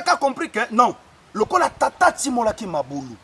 ka compris que non lokola tata atimolaki mabulu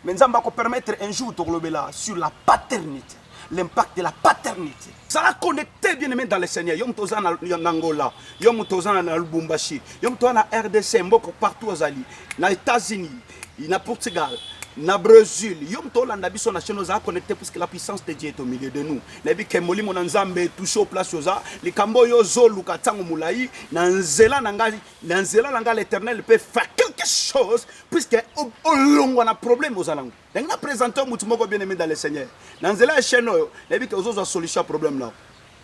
mais nzambe akopermettre un jour tokolobela sur la paternité l'impact de la paternité zala connecté bien aimé dans le seigneur yo moto oza na angola yo moto oza na lubumbashi yo moto oza na rdc mboko partout ozali na états-unis na Portugal na Brésil yo moto olanda biso na chaîne oza connecté puisque la puissance de Dieu est au milieu de nous nayebi ke molimo na Nzambe touche au place oza likambo oyo ozoluka ntango molai na nzela na ngai na nzela na ngai l'éternel peut faire quelque chose puisque olongwa na problème ozala ngo ndenge na présente motu moko bien aimé dans le Seigneur na nzela ya chaîne oyo nayebi ke ozozwa solution ya problème nao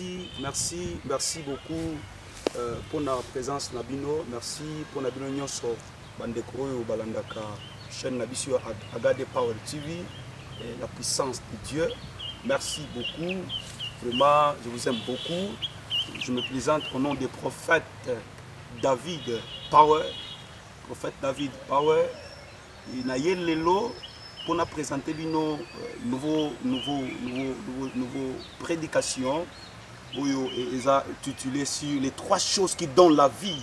merci merci merci beaucoup euh, pour la présence na bino merci pour la bino nyonso Bandeko oyo balandaka chaîne na biso ya Agade Power TV, eh, la puissance de Dieu. Merci beaucoup. Vraiment, je vous aime beaucoup. Je me présente au nom des prophètes David Power. Prophète David Power. Et na ye lelo pour na présenter bino euh, nouveau nouveau nouveau nouveau nouveau prédication oyo eza titulé sur les trois choses qui donnent la vie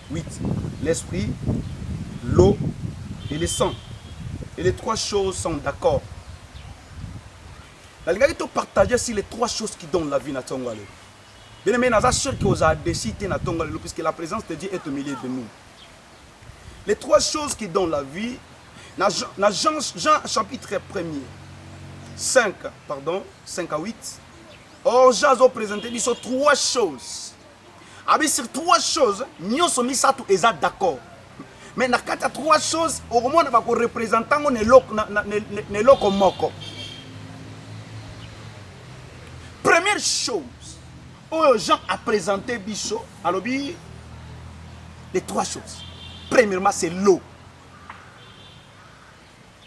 8. L'esprit, l'eau et le sang. Et les trois choses sont d'accord. nalingaki topartage si les trois choses qui donnent la vie na ntongo ya lelo bien aimé naza sûr que ozala desi te na ntongo ya lelo puisque la présence de dieu est au milieu de nous les trois choses qui donnent la vie na, na jean, jean chapitre 1er 5 pardon 5 à 8 orge azopresente biso trois choses Abi sur trois choses nyoso misato eza d'accord mais na kati ya trois choses okomona bakorepresente yango na eloko moko première chose oyo jean apresente biso alobi les trois choses premièrement c'est l'eau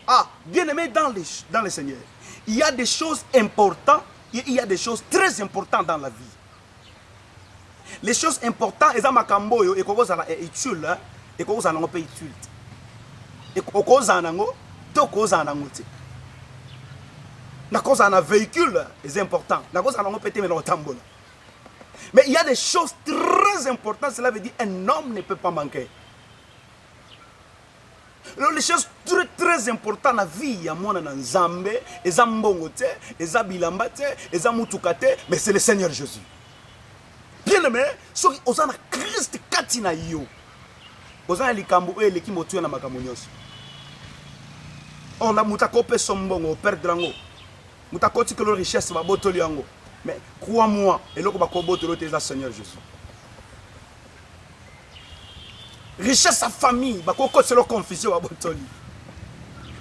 ah bien aimé dans le, dans le seigneur il y a des choses importantes il y a des choses très importantes dans la vie Les choses importantes eza makambo oyo ekoki kozala eh, utile, hein. ekoki kozala nango mpe utile te. Okozala nango to okozala nango te. Nakozala na véhicule eza important, nakozala nango mpe te mais nakotambola. Mais il y a des choses très importantes, cela veut dire un homme ne peut pas manquer. Alors les choses très très important na vie ya mwana na Nzambe eza mbongo te, eza bilamba te, eza mutuka te, mais c'est le Seigneur Jésus. Bien aimé, soki oza na Christ kati na yo, oza na likambo oyo eleki motuya na makambo nyonso. Or na moto akopesa mbongo operdre yango, moto akotikelo richesse babotoli yango, mais crois-moi eloko bakobotolo te eza Seigneur Jésus. richesse ya famille bakoki koselo confusion ya botoli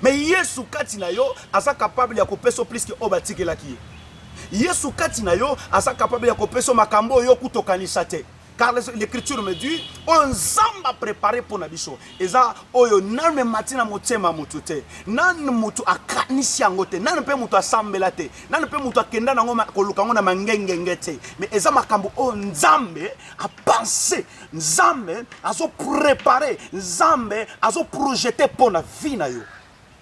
me yesu kati na yo aza kapable ya kopesa yo pliske oyo batikelaki ye yesu kati na yo aza kapable ya kopesa yo makambo oyo okuta okanisa te car l'écriture me dit oyo nzambe aprepare mpo na biso eza oyo nanu emati na motema ya motu te, nanu motu akanisi yango te, nanu mpe motu asambela te, nanu mpe motu akenda nango koluka yango na mangengenge te, me eza makambo oyo Nzambe apanse, Nzambe azo prepare, Nzambe azo projete mpo na vie na yo.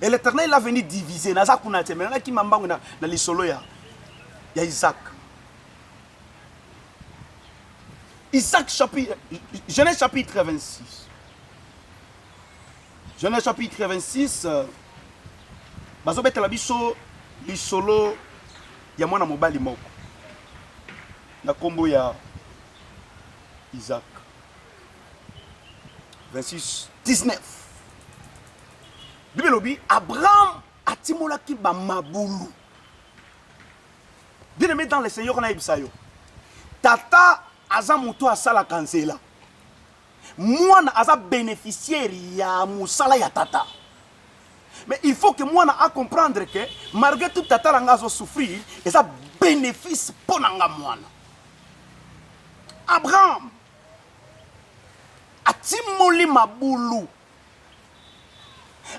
et l'éternel il a venu diviser naza kuna te mais nana kima mbangu na, na lisolo ya ya Isaac Isaac chapitre Genèse chapitre 26 Genèse chapitre 26 euh, bazobetela biso lisolo ya mwana mobali moko na nkombo ya Isaac 26 19 bible elobi abraham atimolaki bamabulu bien aimé dans le seigneur nayebisa yo tata aza moto asalaka nzela mwana aza bénéficiaire ya mosala ya tata mais il faut que mwana acomprendre que malgré tout tata na nga azosouffrir eza bénéfice mpo na nga mwana abraham atimoli mabulu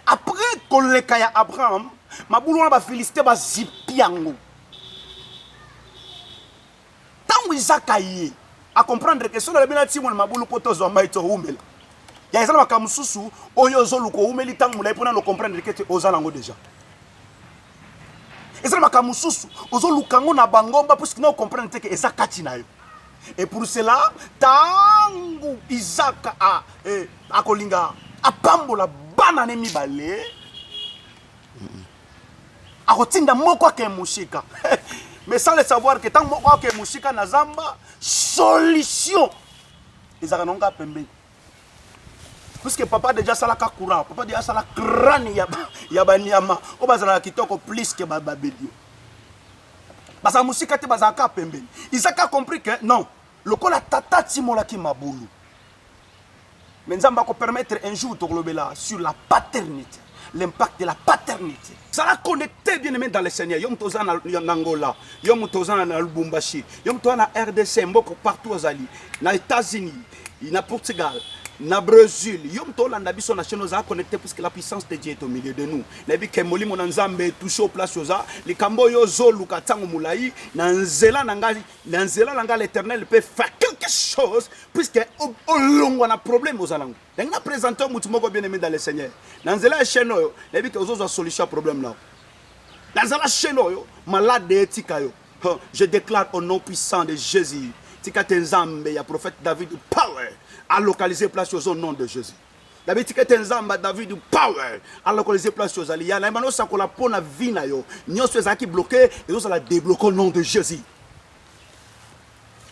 apres koleka ya abraham mabulu wana bafiliste bazipi yango ntango izaka ye acomprendre ke soki nalobi natimoli mabulu mpo tozwa mai towumela ya eza na makambo mosusu oyo ozoluka owumeli ntango molai mpo nano comprendre ke te oza nango deja eza na makambo mosusu ozoluka yango na bangomba mpo sikina okomprendre te ke eza kati na yo et pour cela ntango isaka a, eh, akolinga apambola bana ne mibale akotinda moko ake mosika mais sans le savoir ke ntango moko ake mosika na zamba solution ezalaka nango kaka pembeni puisque papa deja asalaka courant papa deja asala crane ya banyama oyo bazalaka kitoko plus ke babelio baza mosika te bazalaka kaka pembeni isaka compris ke non lokola tata atimolaki mabulu me nzambe akopermettre un jour tokolobela sur la paternité l'impact de la paternité. Zala connecté bien aimé dans le Seigneur. Yom toza na Angola, yom toza na Lubumbashi, yom toza na RDC, mboko partout ozali, na États-Unis, na Portugal, na Brésil, yom tolanda biso na chaîne oza connecté puisque la puissance de Dieu est au milieu de nous. Nayebi ke molimo na Nzambe touche au place oza, likambo yo zoluka tango mulayi na nzela na ngai, na nzela na ngai l'Éternel peut faire quelque chose puisque olongwa na problème ozalango. ndenge na presente yo motu moko bien aimé dans le seigneur na nzela ya chaîne oyo nayebi ke ozozwa solution ya problème nao na nzela chaîne oyo malade etika yo je déclare au nom puissant de jésus tika te nzambe ya prophète david power alocalise place ozo nom de jésus david tika ete nzambe david power alokolize place ozali ya nayeba nosakola mpo na vi na yo nyonso ezalaki bloke ezozala debloke au nom de jésus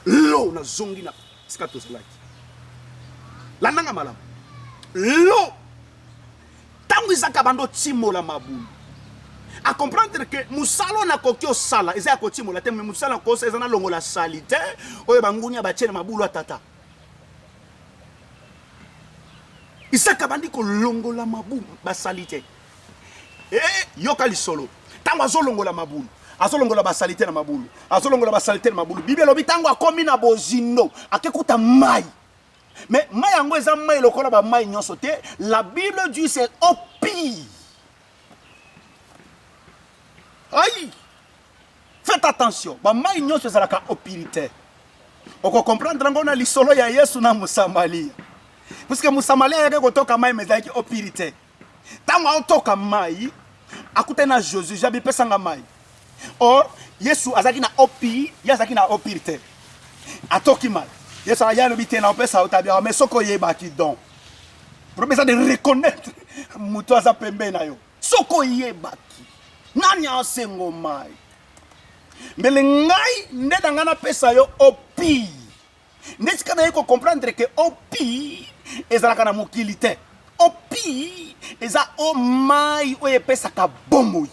Lo, nazongi na sika tozalaki. Landanga malamu. Lo, tango izaka bando timola mabulu. A comprendre que musala oyo nakoki osala eza ya kotimola te, mais musala kosa eza na longola salite oyo bangunia batie na mabulu ya tata. Isaka bandi kolongola mabu basali te. Eh, yoka lisolo. Tango azolongola mabulu, azolongola basalite na mabulu, azolongola basalite na mabulu. Biblia elobi tango akomi na bozindo, akekuta mai. Mais mai yango eza mai lokola ba mai nyonso te. La Bible dit c'est au pire. Aïe! Faites attention, ba mai nyonso ezalaka au pire te. Okocomprendre yango na lisolo ya Yesu na Mosamalia. Puisque Mosamalia ayaki kotoka mai mais ezalaki au pire te. Tango aotoka mayi, akutani na Josué, Jabi pesa nga mayi. Or Yesu azaki na opir, ye azaki na opir te. Atoki mayi. Yesu aya lobi te na opesa otabia, mais soko yebaki donc. Problème eza de reconnaître mutu aza pembe na yo. Soko yebaki nani asengo mayi. Mbele ngai nde na ngai napesa yo opir. nde sika naye ko comprendre ke opi ezalaka na mokili te opi eza o mai oyo epesaka bomoi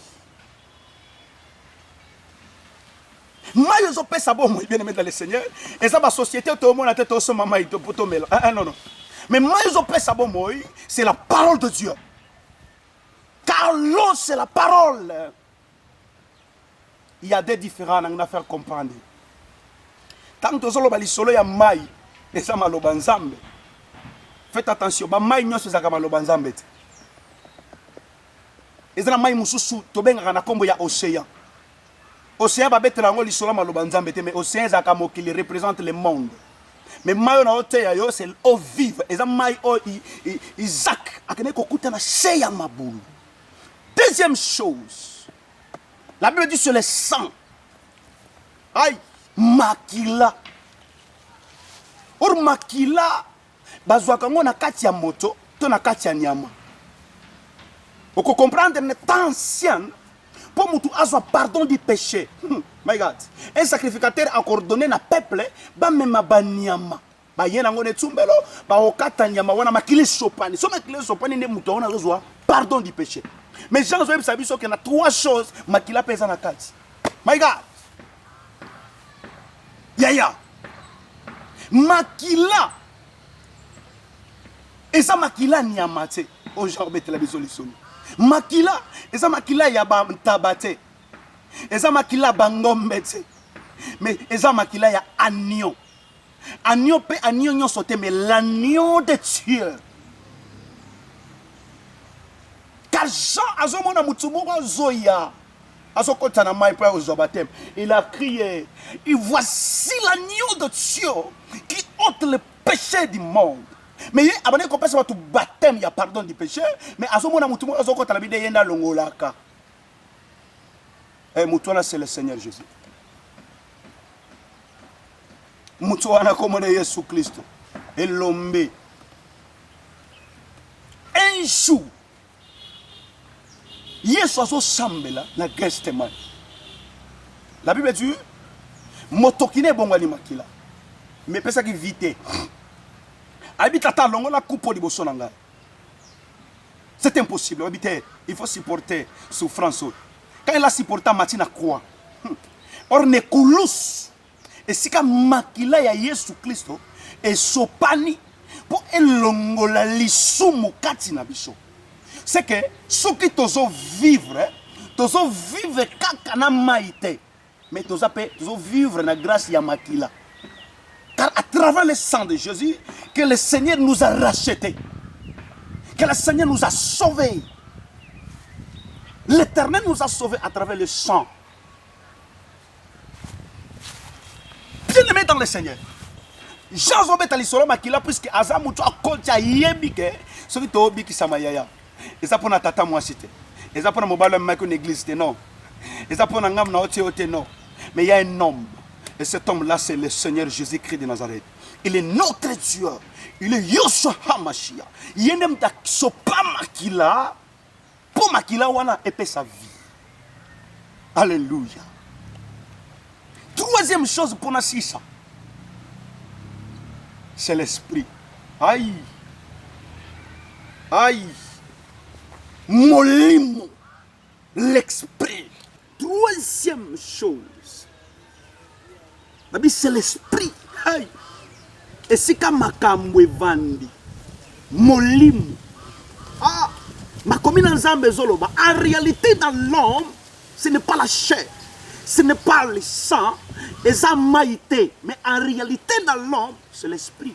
mai ezopesa bomoi bien aimé dans le seigneur eza basociété tomona te tosomba mai po tomela ah, ah, non non mais mai ezopesa bomoi c'est la parole de dieu car l'eau c'est la parole il y a des différents nangi na faire comprendre ntango tozoloba lisolo ya mai eza maloba nzambe faites attention bamai nyonso ezalaka maloba nzambe te eza na mai mosusu tobengaka na nkombo ya océan océan babetela yango lisolo ya maloba nzambe te mais océan ezalaka mokili représente le monde mais mai oyo na oteya yo c'est eau vive eza mai oyo isaac akendaki kokuta na se ya mabulu Deuxième chose, la Bible dit sur le sang. Aïe, makila. Or makila bazwaka yango na kati ya moto to na kati ya nyama. Okokomprendre ne temps ancien mpo motu azwa pardon du péché. Hmm, my God, un sacrificateur akordonne na peuple bamema banyama baye nango na etumbelo bakokata nyama wana makili esopani so makili esopani nde moto yango nazozwa pardon du péché mais jean azoyebisa biso ke na trois choses makila mpe eza na kati my god yaya makila eza makila nyama te oyo jean obetela biso lisolo makila eza makila ya bantaba te eza makila bangombe te mais eza makila ya agnon Agneau pe agneau nyonso te mais l'agneau de Dieu. Car Jean azomona mutu moko azoya azokotisa na mai mpo ya kozwa bateme il a crié et voici l'agneau de Dieu qui ôte le péché du monde mais ye abandaki kopesa bato bateme ya pardon du péché mais azomona mutu moko azokota na bide ye nde alongolaka e eh, mutu wana c'est le Seigneur Jésus moto wana kombo na yesu klisto elombe un jour yesu azosambela na gestemane la bible dit motoki na ebongwani makila me epesaki vi te ayebi tata alongola kupo liboso na ngai c'est impossible oyebi te il faut supporter souffrance oyo quand il a supporta mati na croix hmm. or nekulus esika makila ya yesu klisto esopani mpo elongola lisumu kati na biso seke soki tozovivre tozovivre kaka na mai te mais toza mpe tozovivre na grâce ya makila car à travers le sang de jésus que le seigneur nous a racheté que le seigneur nous a sauvés l'éternel nous a sauvés à travers le sang bien-aimé dans le Seigneur. Jean azobeta lisolo makila puisque aza moto akoti ayebi ke soki tobikisama yaya eza mpo na tata mwasi te eza mpo na mobali amemaki na église te non eza mpo na ngambo na otie yo te non mais ya un homme et cet homme là c'est le Seigneur Jésus-Christ de Nazareth il est notre Dieu il est Yoshua Hamashia ye nde moto asopa makila mpo makila wana epesa vie alleluya troisième chose mpo na sisa c'est l'esprit ai ai molimo l'esprit Troisième chose, babi c'est l'esprit. Hey! Esika makambo evandi, molimo. Ah! Makomi na Nzambe ezoloba, en réalité dans l'homme, ce n'est pas la chair, ce n'est pas le sang, eza maïté, mais en réalité dans l'homme, c'est l'esprit.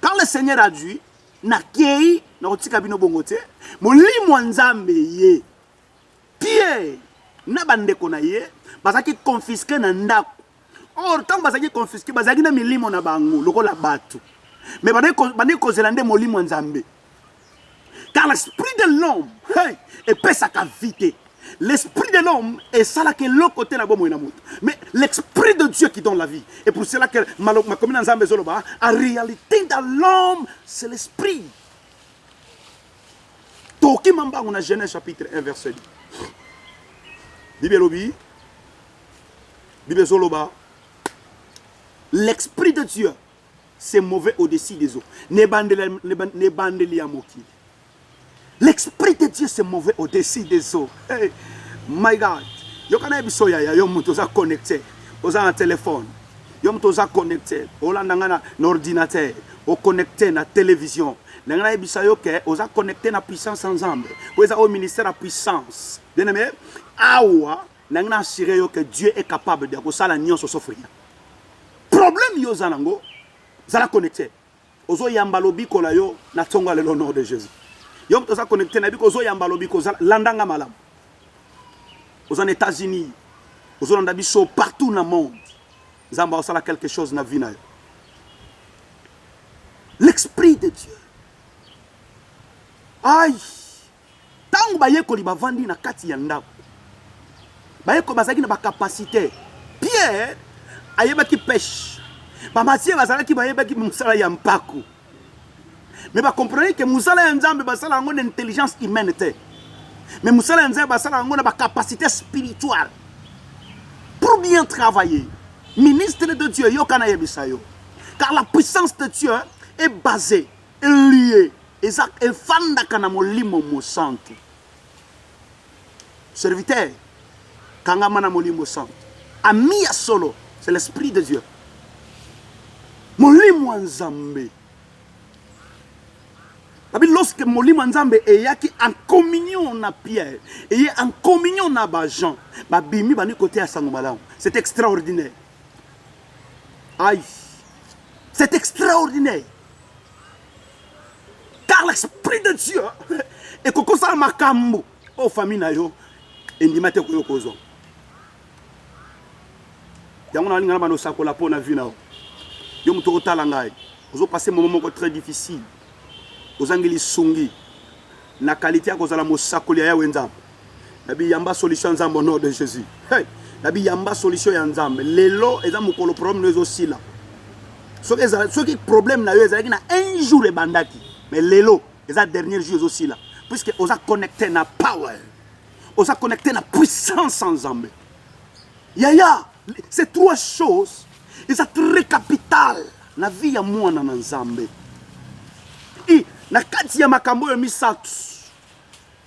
Quand le Seigneur a dit, nakei nakotika bino bongo te, molimo ya Nzambe ye Pierre na bandeko na ye bazalaki confisque na ndako. Or ntango bazalaki confisque bazalaki na milimo na bango lokola bato, mais bandeki kozela nde molimo ya Nzambe. car l'esprit de l'homme hey, epesaka vie te l'esprit de l'homme esalaka eloko te na bomoi na moto mais l'esprit de dieu qui donne la vie et pour cela que makomi na nzambe ezoloba en réalité dans l'homme c'est l'esprit tokima mbango na genèse chapitre 1 verset 10 bible elobi bible ezoloba l'esprit de dieu c'est mauvais au-dessus des eaux. N'ebandeli ya mokili. L'esprit de Dieu c'est mauvais au-dessus des eaux. Hey, my God. Yoka na biso yaya yo moto oza connecté. Oza na téléphone. Yo moto oza connecté. Olanda nga na ordinateur. O connecté na télévision. ndenge nayebisa yo ke oza connecté na puissance ya nzambe mpo eza oyo ministère ya puissance bien aimé awa Nangi na assurer yo que Dieu est capable de kosala nionso sauf rien. Problème yo za nango zala connecté. Ozo yamba lobiko la yo na tsonga le nom de Jésus. Yo mtoza connecté na biko ozo yamba lobiko zala landanga malamu. Ozo na États-Unis. Ozo landa biso partout na monde. Zamba osala quelque chose na vie na yo. L'esprit de Dieu. Aïe. Ntango bayekoli bavandi na kati ya ndako, bayekoli bazalaki na bakapasite. Pierre ayebaki peshe, bamasiye bazalaki bayebaki mosala ya mpako, me bakomprenaki ke mosala ya Nzambe basala yango na intelligence humaine te, me mosala ya Nzambe basala yango na bakapasite spirituale pour bien travailler. Ministre de Dieu, yoka nayebisa yo, car la puissance de Dieu est basée Liye eza efandaka na molimo mosantu. Serviteur kangama na molimo santu. Ami ya solo c'est l'esprit de Dieu. Molimo ya Nzambe. Babi lorsque molimo ya Nzambe eyaki en communion na Pierre, eye en communion na ba Jean, babimi bani koteya sango malamu. C'est extraordinaire. Aïe. C'est extraordinaire. car l'esprit de dieu ekoki kosala makambo oyo famille na yo endima te koyo kozwa yango nalinga na bana osakola mpo na vi na yo yo moto okotala ngai ozopase momo moko très difficile ozangi lisungi na kalite ya kozala mosakoli ya yawe nzambe na biyamba solution ya nzambe au nom de jésus hey! na biyamba solution ya nzambe lelo eza mokolo problème no ezosila soki ezala soki problème na yo ezalaki na un jour ebandaki mais lelo eza dernier jour ezosila puisque oza connecté na power oza connecté na puissance ya nzambe yaya ces trois choses eza très capital na vie ya mwana na nzambe i na kati ya makambo oyo misato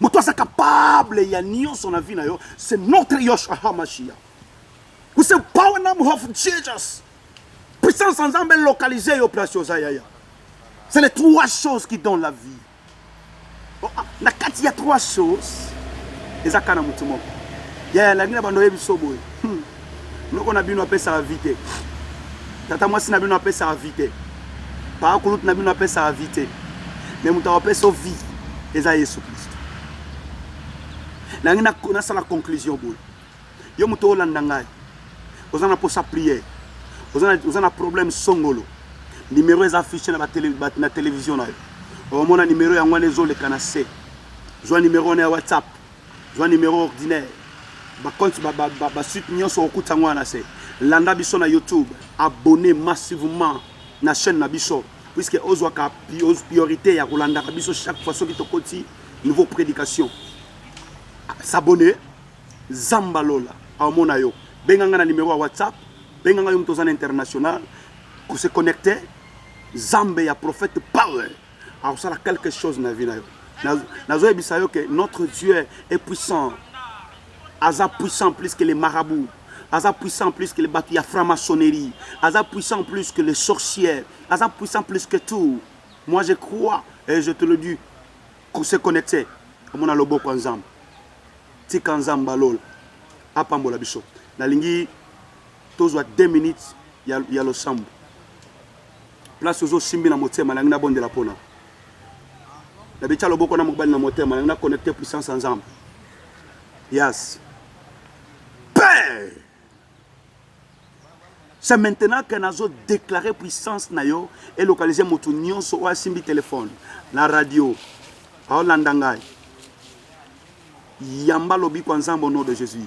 moto aza capable ya nyonso na vie na yo c'est notre yoshua hamashia with the power name of jesus puissance ya nzambe localise yo place oza yaya c'est les trois choses qui donnent la vie oh, ah, na kati ya trois choses eza kaka na moto moko yaya alangi na bando oyebi so boye hmm. Noko na bino apesaka vie te. Tata mwasi na bino apesaka vie te. Paa kulutu na bino apesaka vie te. Me moto akopesa vie eza Yesu Kristo. Nangi nasala conclusion boye. Yo moto olanda ngai. Oza na posa prière. Oza na problème songolo. Numéro eza affiché na, tele, na télévision na yo. Omona numéro yango wana ezoleka na se. Zwa numéro wana ya WhatsApp. Zwa numero ordinaire ba compte ba ba ba, ba suite nionso okutisa ngo na se. Landa biso na YouTube, abonner massivement na chaine na biso puisque ozwa ka priorite ya kolandaka biso chaque fois soki tokoti nouveau prédication. S'abonner Zamba Lola aomona yo. Benga nga na numero ya WhatsApp, benga nga yo moto oza na international, ko se connecter Zambe ya prophète Power. akosala quelque chose na vie na yo nazoyebisa yo ke notre dieu est puissant aza puissant plus que les marabouts aza puissant plus que les bato ya franc-maçonnerie aza puissant plus que les sorcières aza puissant plus que tout moi je crois et je te le dis se connecter omona loboko ya nzambe tika nzambe alola apambola biso nalingi tozwa 2 minutes ya, ya losambo Place ozo simbi na motema nalingi na bondela pona na bitia loboko na mobali na motema nalingi na connecte puissance ya nzambe yes père c'est maintenant que nazo déclarer puissance na yo et localiser motu nyonso oyo asimbi telefone na radio aolanda ngai yamba lobiko ya nzambe au nom de jésus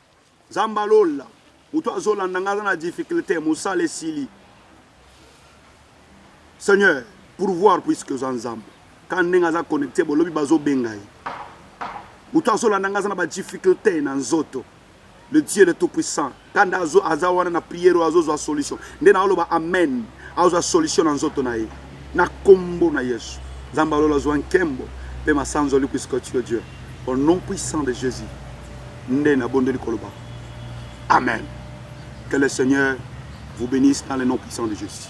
Nzambe alola moto azolanda ngai aza na difficulté mosala esili seigneur pourvoir puisque oza nzambe kaka ndenge aza connecte bolobi bazobenga ye moto azolanda ngai aza na badifficulté na nzoto le dieu le tout puissant kanda aza wana na priere oyo azozwa solution nde naoloba amen azwa solution na nzoto na ye Na kombo na yesu nzambe ya lola azua nkembo pe masanzoli puisque tu es Dieu au nom puissant de Jesus nde na bondeli koloba amen que le seigneur vous benisse dans le nom puissant de Jesus.